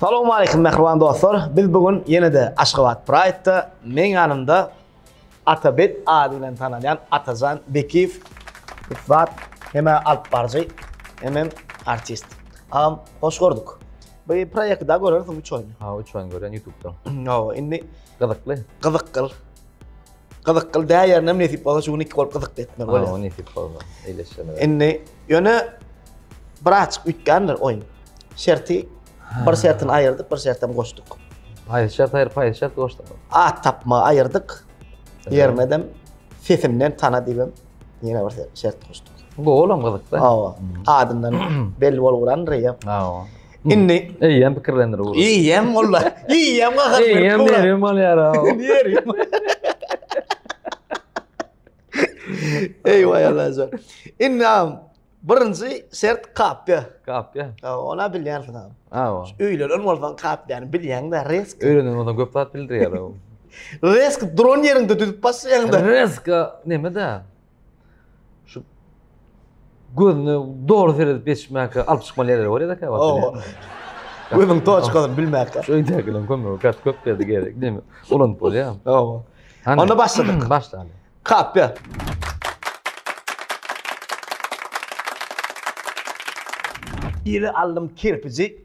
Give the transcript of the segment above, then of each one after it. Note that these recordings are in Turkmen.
Salowmaleýkim mähriban dostlar! Biz bu gün ýene-de Aşgabat Pride-da meň ýanymda Atabek ady bilen tanalýan Atajan Bekiýew ussat hem alypbaryjy hemem artist. Agam hoş gördük. Bu proýekti daha görersiň üç oýny. Ha üç oýny görýän ýutubdan. Hawa indi Gyzykly. Gyzykgyl. Gyzyk gyl dä ýerinem nesip bolsa şu gün iki bolup gyzykly etmek bolýar. Ha, o nesip bolmaz. Eýleşene. Indi ýöne bir açyk üýtgändir oýun. Şerti bir şertini aýyrdyk, bir şertem goşduk. Haýsy şert aýyryp, haýsy şert goşduk? At tapma aýyrdyk. Ýermedem sesinden tana diýip ýene bir şert goşduk. Bu olam gyzykda. Hawa. Adyndan belli bolup durandyr ýa. Hawa. Indi eýýäm pikirlendir bu. Eýýäm molla, eýýäm gahar berip. Eýýäm nerem bolýar ha. Nerem. Eý vay Allajan. Indi am birinji şert kapya. Kapya. Ha, ona bilýärsiň am. Ha. Öýlenen bolsaň kapyany bilýäň de risk. Öýlenen bolsaň köp zat bildirýär o. Risk dron ýerinde düzüp basýaň da. Risk neme da? Şu gözüne dogry seredip geçmäke alyp çykmaly ýerleri bor ýa-da käwagt. Owa. Gözüň toçkasyny bilmäke. Şu öýdäkileriň kömegi kat köp geldi gerek. Näme? Ulanyp bolýar. Owa. Onda başladyk. Başlaýyn. Kapýa. Ýyly aldym kirpiji.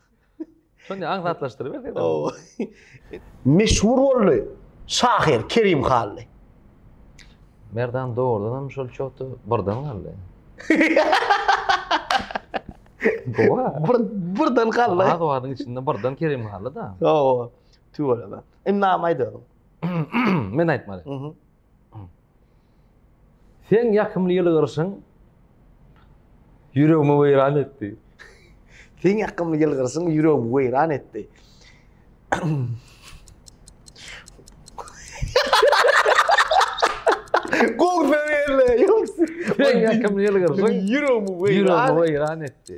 Şonda aňsatlaşdyryp berseň. Oo. Meşhur boldy. Şahyr Kerim Hally. Merdan doğrudan hem şol çoğdu birden galdy. Gowa. Bir, birden galdy. Az wagtyň içinde birden Kerim Hally da. Oo. Tüweleme. Indi näme aýdalım? Men aýtmaly. Mhm. Seň ýakymly ýylgyryşyň ýüregimi weýran etdi. Seň ýakymly ýylgyryşyň ýüregimi weýran etdi. Gol berle, ýoks. Seň ýakymly ýylgyryşyň ýüregimi weýran etdi.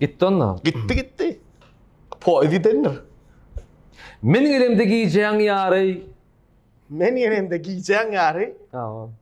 Gitti onda. Gitti gitti. Poýuz gidendir. Men gelemde gijäň ýary. Men gelemde gijäň ýary. Tamam.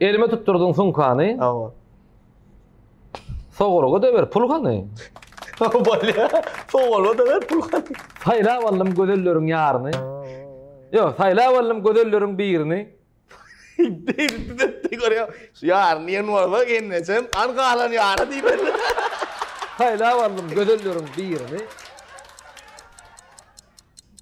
Elime tutturdun sumkany. Awa. Sogolga da ber pul gany. Bolýa. Sogolga da ber pul gany. Saýlap aldym gözelleriň ýaryny. Ýok, saýlap aldym gözelleriň birini. Degdi depdi görýä. Şu ýaryny diýen bolsa gelnejem an galan ýary diýmeli. Saýlap aldym gözelleriň birini.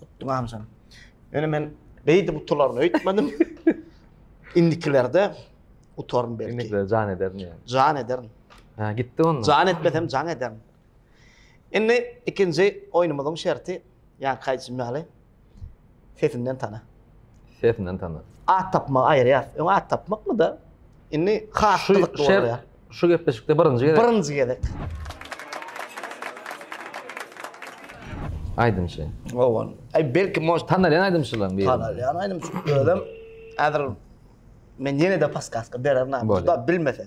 Gutlaňjam. Ýöne men beýdip utularyny öýtmedim. Indikilerde utaryn belki. Indikilerde jan ederin ýa. Jan ederin. Ha, gitdi onda. Jan etmesem jan ederin. Indi ikinji oýnumyzyň şerti, ýa kaýçym ýaly, sesinden tana. Sesinden tana. At tapmagy aýyrýar. Öň at tapmakmy da? Indi has gyzykly bolýar. Şu gepleşikde birinji gezek. Birinji gezek. Aýdymçy. Owan. Aý belki moş tanalýan aýdymçylaryň biri. Tanalýan aýdymçy. Özüm häzir men ýene-de paskaska bererin. Juda bilmese.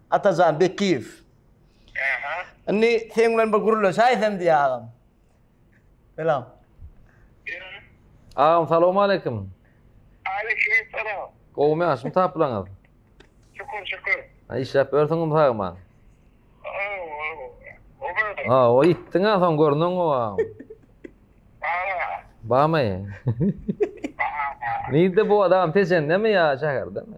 Atajan Bekiýew. Aha. Indi sen bilen bir gürleşäýsem diýýä agam. Selam. Berin. Agam salawmaleýkim. Aleýkim salam. Gowumy ýagşymy tapylaňyz? Şükür şükür. Ha işläp ýörsüňizmi sagman? Ha, o ýitdiň ha soň görnüň o. Bamy? Nirde bu adam peşendemi ýa şäherdemi?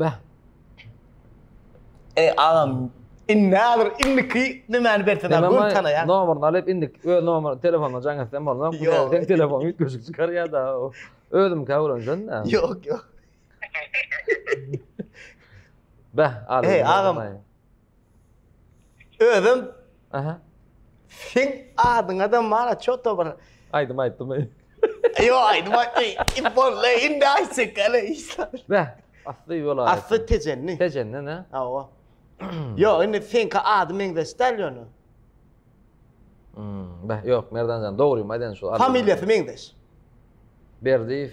Beh. Ey agam, indi häzir indiki nämäni berseň Sen gör tanaýar. Nomerini alyp indik öz nomer telefonuna jaň etsem bolmaz. Ýok, sen telefon üýtgeşik çykarýar-da. Özüm käwrenjen de. Ýok, ýok. Beh, alyp. Ey agam. Özüm Aha. Sen adyňa da mara çoto bir. Aýdym aýtdym. Yo aýdym aýtdy. Ibolle indi aýtsak gele işler. Bä, asly ýola. Asly tejenni. Tejenni ne? Awa. Yo indi senki ady meňzeş däl ýöne. Hmm, bä, ýok Merdanjan, dogrymy aýdan şu. Familiýasy meňzeş. Berdiýew.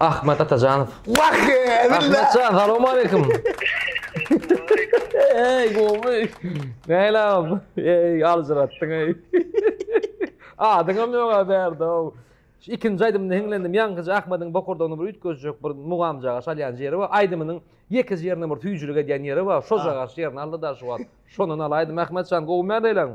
Ahmet Atajanov. Wah! Ahmetjan, salam aleyküm. Ey, gowy. Näle ab? Ey, aljyratdyň ey. Adyňam ýok a bärde. Şu ikinji aýdymda hiňlendim. Ýaňkyja Ahmediň bokurdagyny bir üýtgezjek bir mugamjaga salýan ýeri bar. Aýdymynyň ýekeje ýerine bir süýjülik edýän ýeri bar. Şo jagaş ýerini aldy da şu wagt. Şondan alaýdym Ahmetjan, gowy mäleýleň.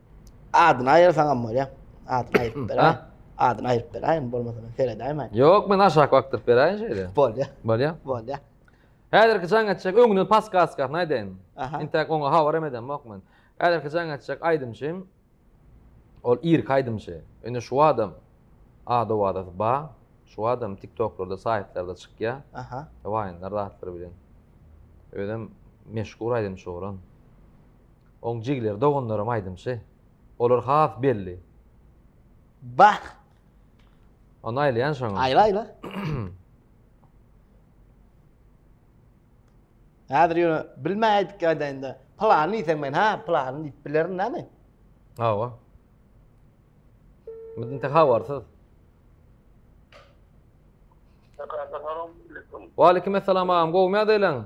Adyny aýyrsaňam bolýa. Adyny aýyryp ber. Ha? Adyny aýyryp beräýin, bolmasa men seredäýmän. Ýok, men aşak bakdyryp beräýin şeýle. Bolýa. Bolýa. Bolýa. Häzirki jaň etjek öňünden paskaskasyny aýdaýyn. Aha. Intäk oňa habar hem edemok men. Häzirki jaň etjek aýdymçy ol irki aýdymçy. Indi şu adam ad owazy ba, şu adam TikToklarda, saýtlarda çykýa. Aha. Waýnlar zatlar bilen. Özem meşhur aýdymçy oglan. Oň jigleri doganlaram aýdymçy. Olar has belli. Bah! Ony aýlaýan şoňa. Aýla aýla. Häzir ýöne bilmä aýdyp aýdaýynda. Pylany diýseň men ha pylany diýip bilerin näme? Hawa. Biz inte habarsyz. Wa aleykum assalam agam, gowmy ýagdaýlaň?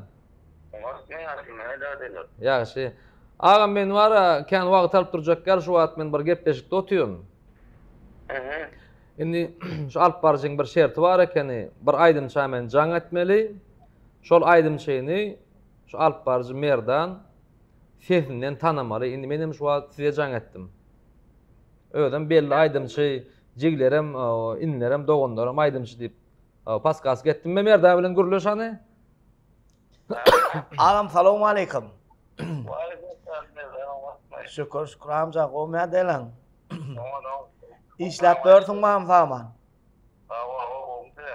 Ýagşy. Agam men wara kän wagt alyp durjak ýaly şu wagt men bir gepleşikde otyryn. Indi şu alyp baryjyň bir şerti bar ekeni, bir aýdymça men jaň etmeli. Şol aýdymçyny şu alyp baryjy Merdan sesinden tanamaly. Indi men hem şu wagt size jaň etdim. Özem belli aýdymçy, jiglerem, inlerem, doganlarym aýdymçy diýip, paskas getdim men Merdan bilen gürleş hany. Agam salowm aleýkum. Şükür, şükür amca, gowy näde elen? Işläp börsüň mam saman.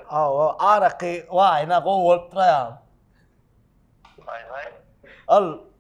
Awa, araky waýna gowy bolup duraýa. Al,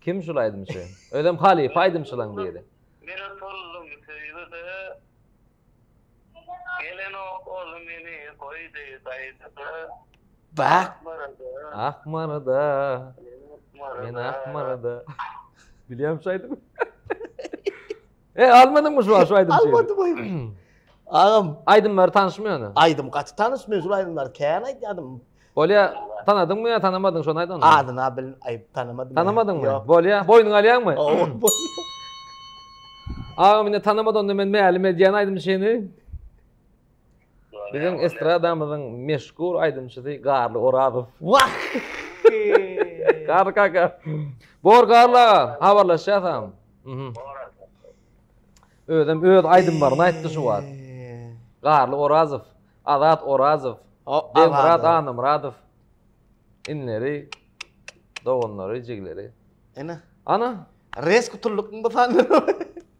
Kim şul aýdymçy? Özem halypa aýdymçylaň biri. Men otuldum söýgüde. Gelenok ol meni goýdy gaýgyda. Bak. Akmarada. Men akmarada. Bilýän şaýdym. E almadyňmy şu şu aýdym? Almadym aýdym. Agam aýdymlary tanyşmy ýöne? Aýdym gaty tanyş, mejbur aýdymlar kän aýdýadym. Bolýa, tanadyňmy ýa tanamadyň şony aýdan? Adyna bil, aý tanamadym. Tanamadyňmy? Ýok. Bolýa, boýnuňa alýaňmy? Agam indi tanamady onda men mälim edýän aýdym şeni. Biziň estradamyzyň meşhur aýdymçysy Garly Orazow. Wah! Garly kaka. Bor Garly aga, habarlaşýas ha. Mhm. Özem öz aýdymlaryny aýtdy şu wagt. Garly Orazow, Azat Orazow, Begmyrat Annamyradow. Inleri, doganlary, jigleri. Ene. Ana. Res gutulykmy bu sanda?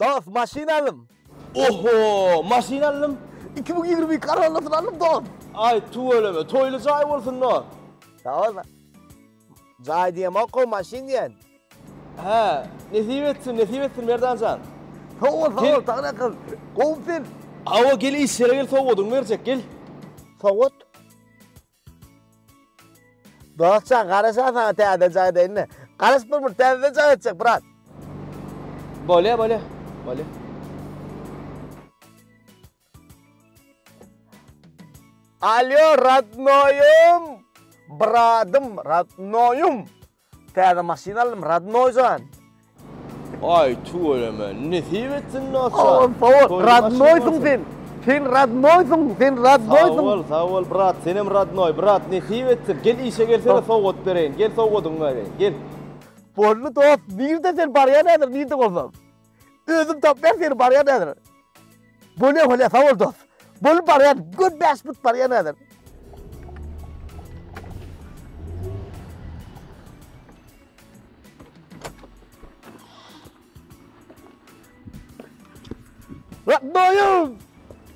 Dost maşyn aldym. Oho maşyn aldym. Iki müň ýigrimi iki Corollasyny aldym dost. Aý tüweleme toýly jaý bolsun dost. Sag bol dost. Jaý diýemok gowy maşyn diýen. Hä nesip etsin nesip etsin Merdanjan. Sag bol sag bol Taglyk akyl. Gowy sen. Hawa gel işlere gel sowgadyňy berjek gel. Sowgat. Dostjan garaşan saňa täze jaý deýinle. Garaşyp bolmur täzeden jaý açjak brat. Bolýa bolýa. Bolýa. Alýo radnoýum. Bradym radnoýum. Täze maşyn aldym radnoý jan. Aý tüweleme nesip etsin dosjan. Sag ol sag ol radnoýsyň sen sen radnoýsyň sen radnoýsyň. Sag bol sag bol brat senem radnoý brat nesip etsin gel işe gelsene sowgat bereýin gel sowgadyňy bereýin gel. Boldy dost nirde sen barýan häzir nirde bolsam. Özüm top ber seni baryan nedir? Bu ne hole sağ ol dost. Bul baryan gül beş bit baryan nedir? Doyum!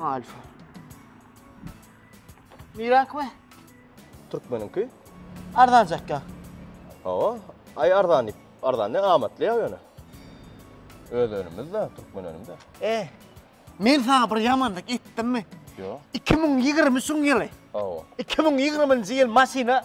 Alfa. Mirak mı? Türkmeniňki? Arzancak ya. Hawa, ay arzan dip, arzan ne amatly ya ýöne. Öz önümüz de, Türkmen önümi de. E, men sana bir yamanlık etdim mi? Yo. 2023 yılı. Hawa. 2020 yıl maşina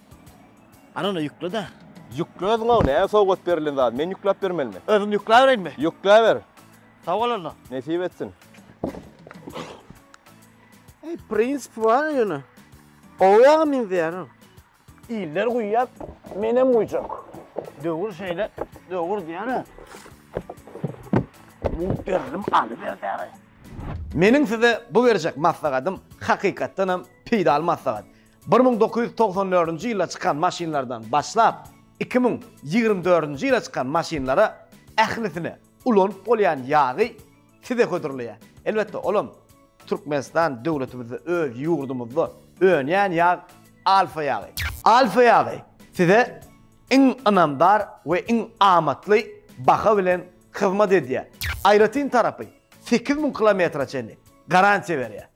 Ana ony ýükle da. Ýükle özüň ony ä sowgat berilen zady men ýükläp bermelimi. Özüm ýükläbereýinmi? Ýükläber. Sag bol onda. Nesip etsin. Eý prinsip bar ýöne. Gowy ýaga meňzeýär o. Iller guýýar menem guýjak. Döwür şeýle döwür diýýän ä. Mugt berdim alyber dagy. Meniň size bu berjek maslahatym hakykatdanam peýdaly maslahat. Bir müň dokuz ýüz togsan dördünji ýylda çykan maşynlardan başlap, iki müň ýigrimi dördünji ýyla çykan maşynlara ählisine ulanyp bolýan ýagy size hödürleýär. Elbetde, olam Türkmenistan döwletimizde, öz ýurdumyzda önýän ýag Alfa ýagy. Alfa ýagy size iň ynamdar we iň amatly baha bilen hyzmat edýär. Aýratyn tarapy, sekiz müň kilometre çenli garantiýa berýär.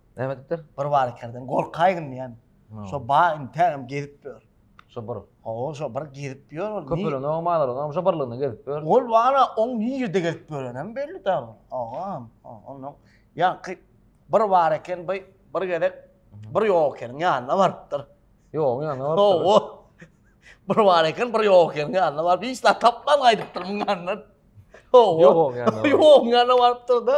Näme diýipdir? Bir bar kerden gorkaýgyn diýen. Şo bar intägem gezip ýör. Şo bir. Hawa, şo bir gezip ýör. Köpelen oň malary, oň şo birliginde gezip ýör. Ol wara oň nirde gezip ýörenem belli däl. Agam, ondan ýaňky bir bar eken, bir bir gezek bir ýok ekeniň ýanyna barypdyr. Ýok, ýanyna barypdyr. Hawa. Bir bar eken, bir ýok ekeniň ýanyna baryp, hiç zat tapman gaýdypdyr muň ýanyndan. Hawa. Ýok, ýanyna. Ýok, ýanyna barypdyr-da.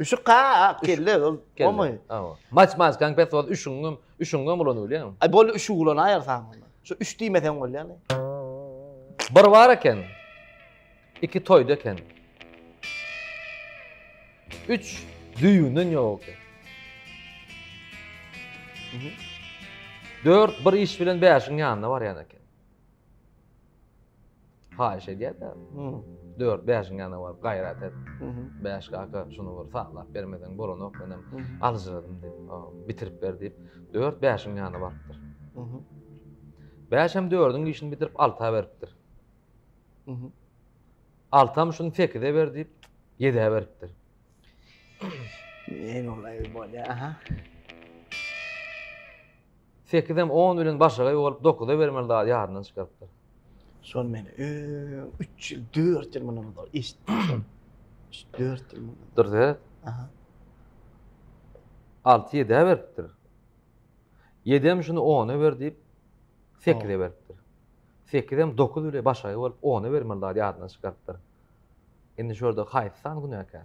Üşük ha, ak kelle, ol bolmaý. Maç maç konfet sos üşüňem, üşüňem ulan bolýar. Ay bol üşük ulan aýar saň. Şu üç diýmeseň bolýar. Bir bar eken. Iki toýda eken. Üç düýünden ýok eken. Dört bir iş bilen bäşiň ýanyna barýan eken. Haýyş edýär-de. Hmm. Dört, bäşiň ýanyna baryp gaýrat et. Mhm. Bäş kaka şuny bir saglap bermeseň bolanok menem Mhm. aljyradym diýip, o, bitirip ber diýip, dört bäşiň ýanyna barypdyr. Mhm. Bäş hem dördüň işini bitirip alta beripdir. Mhm. Altam şuny sekize ber diýip, ýedä beripdir. Ey bolay bolya aha. Sekizem on bilen başaga ýuwalyp dokuza bermeli zady ýadyndan çykarypdyr. Şol men öň üç ýyl, dört ýyl mundan ozal eşitdim şol. Üç-dört ýyl mundan. Dur seret. Aha. Alty ýedä beripdir. Ýedem şuny ona ber diýip, sekize beripdir. Sekizem dokuz bile başaga ýuwalyp ona bermeli zady ýadyndan çykarypdyr. Indi şu ýerde haýsy san günäkär?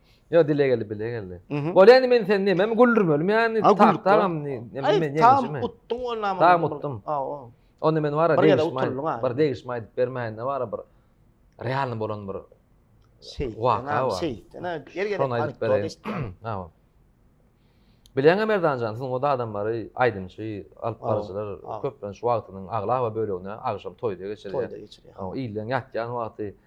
Yo dile geldi bile geldi. Bolýa indi men sen näme güldürmelim ýa indi tak tagam näme men ýeňişme. Tam utduň ol näme. Tam utdum. Onda men wara degişme. Bir degişme aýdyp bermäýinde wara bir realny bolan bir şey. Waka bar. Şey. Ana gel gel. Şonu aýdyp bereýin. Ha. Bileňe Merdanjan, siziň o adamlary, aýdymçy, alyp baryjylar köplenç wagtynyň aglaba bölegini agşam toýda geçirýär. Toýda geçirýär. Ha, ilden ýatýan wagty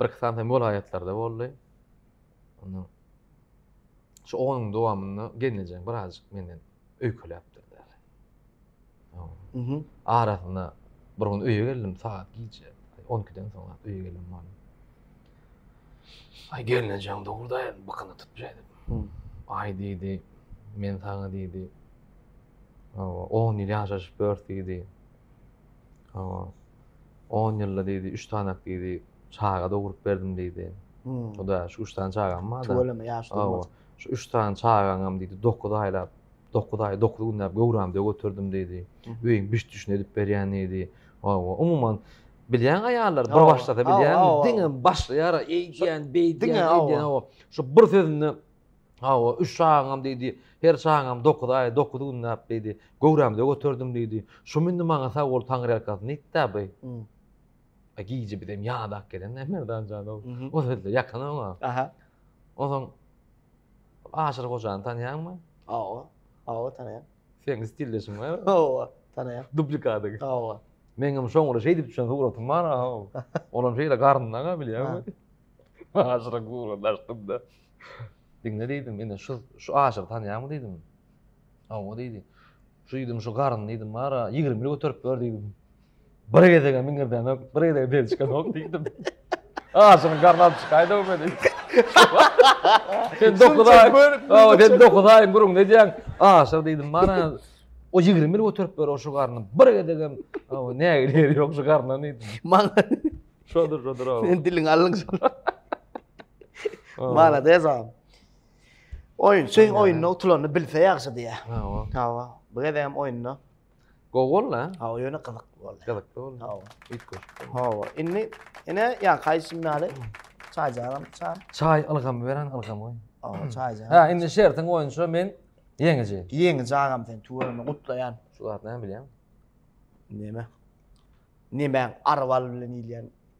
Bir iki sany hem welaýatlarda boldy. Onda şu onuň dowamynda gelnejeň birazjyk menden öýkeläpdir. Mhm. Arasyna bir gün öýe geldim, saat gije 12-den soň öýe geldim boldy. Ay gelnejeň durda, bakyny tutup ýedi. Hmm. Ay diýdi, men saňa diýdi. Awa, 10 ýyl ýaşaşyp ýörs diýdi. Awa, On ýylda diýdi, üç sanak diýdi, çaga dogrup berdim diýdi. Hudaýa şu üç sany çagam bar-da. Tüweleme, ýaş durmaz. Şu üç sany çagaňam diýdi, dokuz aýlap, dokuz aý, dokuz günläp göwrämde göterdim diýdi. Öýüň biş-düşüni edip berýän diýdi. Hawa, umuman, bilýäň aýallar bir başlasa bilýäňmi, diňe başlaýar-a, eýdýän, beýdýän, eýdýän, hawa. Şu bir sözünde Hawa, üç çagaňam diýdi, her çagaňam dokuz aý, dokuz günläp diýdi, göwrämde göterdim diýdi. Şum indi maňa sag bol taňryýalkasy nitdä by? A gije bizem ýadak gelen-dä Merdan janow. O sözde ýakyn oňa. Aha. Onsoň Aşyr hojany tanýaňmy? Hawa. Hawa tanaýan. Seň stildeşiň bar? Hawa, tanaýan. Duplikadyň. Hawa. Meňem şoňra şeýdip düşen suratym bar, hawa. Olam şeýle garyndaga bilýäňmi? Aşyryň suratyny açdym-da. Diňle diýdim, indi şu şu aşygy tanýaňmy diýdim. Hawa diýdi. Şu diýdim, şu garyn diýdim, bara 20 ýyl göterip ber diýdim. Bir gezege miňirdenok, bir gezege bel çykanok diýdim. Aşygyň garny alyp çykaýda bu meni. Sen dokuz aý, hawa sen dokuz aý guruň ne diýen? Aşyk diýdim, bara o 20 ýyl göterip ber o şu garny. Bir gezege hawa ne gelir ýok şu garna diýdim. Maňa şodur şodur hawa. Sen diliň alyn şol. Malades agam. Oýunçy oýunda utulanyny bilse ýagşy diýä. Hawa. Hawa. Bu gezek hem oýunda. Gowy boldy ha? Hawa, ýöne gyzyk boldy. Gyzyk boldy. Hawa. Üç goş. Hawa. Indi ene ýa kaýşym ýaly çaýjaram çaý. Çaý ylgam beren ylgam goý. Hawa, çaýja. Ha, indi şertiň boýunça men ýeňiji. Ýeňiji agam sen tuwanyny gutlaýan. Şu zat näme bilýän? Näme? Näme arwal bilen ilýän?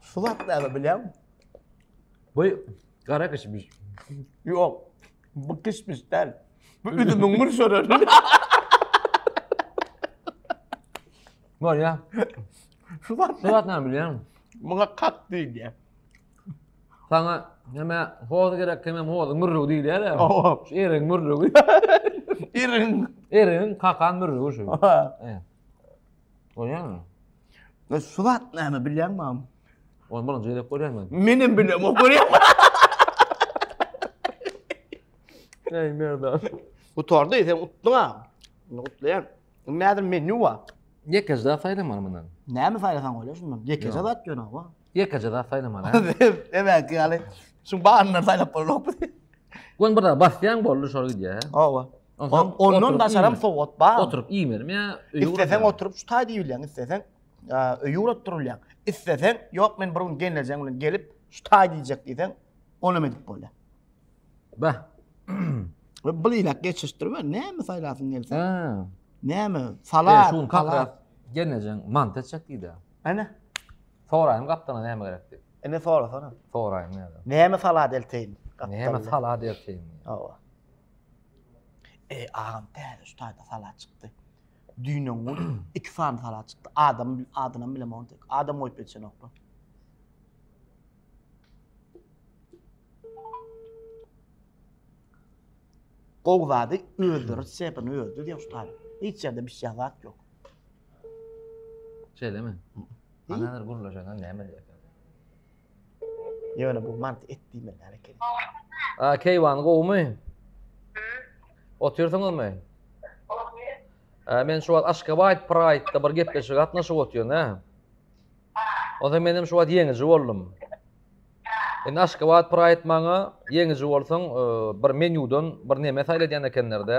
Şu wagt näme bilýän? Bu gara kişmiş. Ýok. Bu kişmiş däl. Bu üzümiň mürşürür. Bol ya. Şu wagt Şu wagt näme bilýän? Muňa kak diýýär. Sana näme hoz gerek kime hoz mürrüw diýýär ya. Şu eriň mürrüwi. Eriň. Eriň kakan mürrüwi şu. Oýaňmy? Ve suvat nâme bilýän mam? Onu birinci gezek görýän ben. Menem bilem o görýän. Ey merdan. Gutardy, sen utdun ha. Bunu utlayan. Nedir menü var? Yekeçde saylaman bundan. Näme saýlasaň bolýar şundan. Ýekeje zat ýöne wa. Ýekeje zat saýlamaly. hä? Emäki ýaly. Şu baryndan saýlap bolanokmy? Gon bir zat basýaň boldy şol gidýär. hä? Hawa. Onsoň O- Ondan oturyp daşaram iýmeli. sowgat bar. Oturyp iýmelim ýa öýe Isleseň ugradyň? oturyp şu taý diýilýän, isleseň ä, öýe ugrap durulýan. Isleseň, ýok men bir gün gelnejem bilen gelip şu taý diýjek diýseň, onu hem edip bolýar. Bah. We bir ýylak geçişdir we näme saýlasyň gelse, Ha. näme, Salat, salat, şu gün kakra gelnejeň mant etjek diýdi. Ene. Soraýyn gapdala näme gerek diýip. Ene sorasana. Soraýyn näme. Näme salat elteýin? Näme salat elteýin? Hawa. Eý agam täze şu taýda salat çykdy. Düýn-ä gün iki sany salat çykdy. Adam adynam bilemok onde. Adam goýup geçenoklar. Gowy zady özleri sepini özleri diýen şu taýda. Hiç ýerde bişýän zat ýok. Şeýlemi? Ana hezir gürleşenden näme diýerkä? Ýöne bu mant et diýmeli näme ekeni? A, Keýwan gowumy? Otyrsyňyzmy? Ä, men şu wagt Aşgabat Pride-da bir gepleşige gatnaşyp otyryn, hä? Onsoň men hem şu wagt ýeňiji boldum. Indi Aşgabat Pride maňa ýeňiji bolsaň, e, bir menýudan bir neme saýla diýen ekenler-de.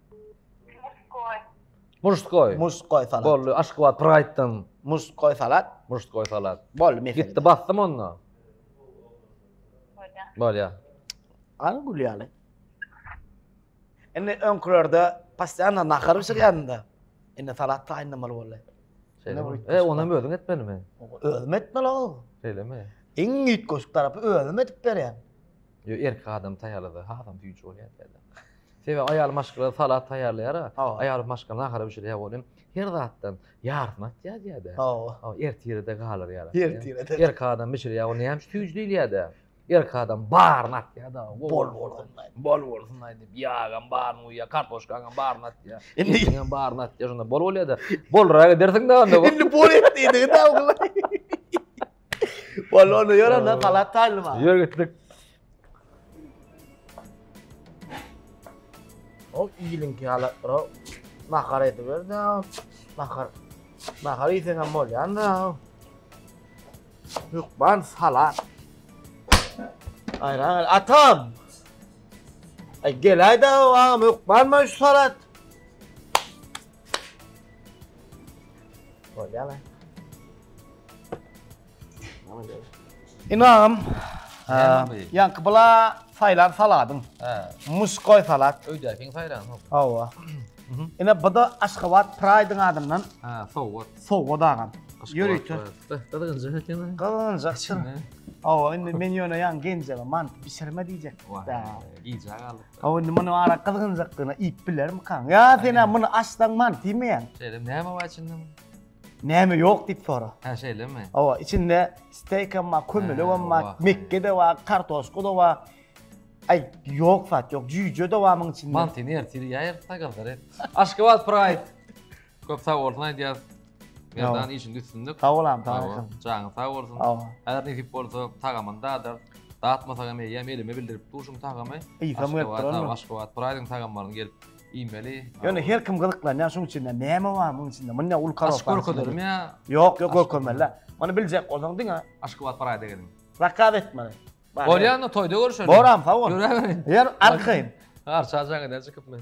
Muşkoy. Muşkoy salat. Boldy. Aşgabat Pride-dan. Muşkoy salat. Muşkoy salat. Boldy mesele. Gitdi bastym onda. Bolýa. Bolýa. Al gülýäli. Indi öňkülerde passiýana nahar bişirýände. Indi salat taýynlamaly boldy. Şeýle. E, onam özüň etmelimi? Özüm etmeli ol. Şeýlemi? Iň ýitgoşuk tarapy özüm edip berýän. Ýo erkek adam taýýarlasa hasam süýji bolýar diýýärler. Sebäbi aýal maşgala salat taýýarlaýar-a. Aýal maşgala nahara bişirýär welin her zatdan ýarysyny atýar diýýär-de. Hawa. Ertire-de galar ýarysyny. Ertire-de. Erkek adam bişirýär ol näme üçin süýji diýilýär-de. Erkek adam baryny atýar-da. Bol bolsunlaý. Bol bolsunlaý diýip ýagam baryny guýýar, kartoşkaňam baryny atýar. Etiňem baryny atýar şonda bol bolýar-da. Bolrak edersiň-dä onda. Indi bol et diýdigi-dä ogulaý. Balonu ýören ha palat taýlyma. Ýör gitdik. O iýilinki hala bro. Nahar edip berdi. Nahar. Nahar iýsen hem bolýan da. Hukman salat. Ayran al. Atam. Ay gel ayda o ağam yok. Var mı şu salat? Bolýar. Ynam. Ýaňky bula saýlan saladyň. Hä. Muskoý salat. Öýdäkiň saýlan. Hawa. Ine bu da Aşgabat Pride-iň adyndan. Hä, sowgat. Sowgat agam. Ýörite. Gyzgynjak ekeni. Gyzgynjak çyn. Hawa, indi men ýöne ýaňky genjeme mant bişirme diýjek. Wah. Gijä galdyk. Hawa indi muny ara gyzgynjakdygyna iýip bilermikaň? Ýa sen-ä muny açsaň mant iýmeýäň? Şeýle, näme bar içinde munuň? Näme ýok diýip sora. Hä, şeýlemi? Hawa, içinde steýk hem bar, kömelek hem bar, mekge-de bar, kartoşka-da bar. Aý, ýok zat ýok, jüýje-de bar munuň içinde. Mantyny ertir iýäýeris-dä gyzlar, et. Aşgabat Pride! Köp sag bolsun aýdýas. Merdan işinde üstünlik. Sag bol am, sag bol. Janyň sag bolsun. Häzir nesip bolsa tagamyny dadar. Datmasak hem eýýäm elime bildirip duşuň tagamy. Isa berip duranmy? Aşgabat Praýdyň tagamlaryny gelip iýmeli. Ýöne her kim gyzyklanýar şuň üçin näme bar muň içinde? Muny ul karos. Aç görkezelim ýa. Ýok, ýok görkezmeli. Muny biljek bolsaň diňe Aşgabat Praýda geliň. Zakaz etmeli. Bolýanmy toýda görüşelim. Boram, sag bol. Ýör arkaýyn. Arçajaň eder çykyp men.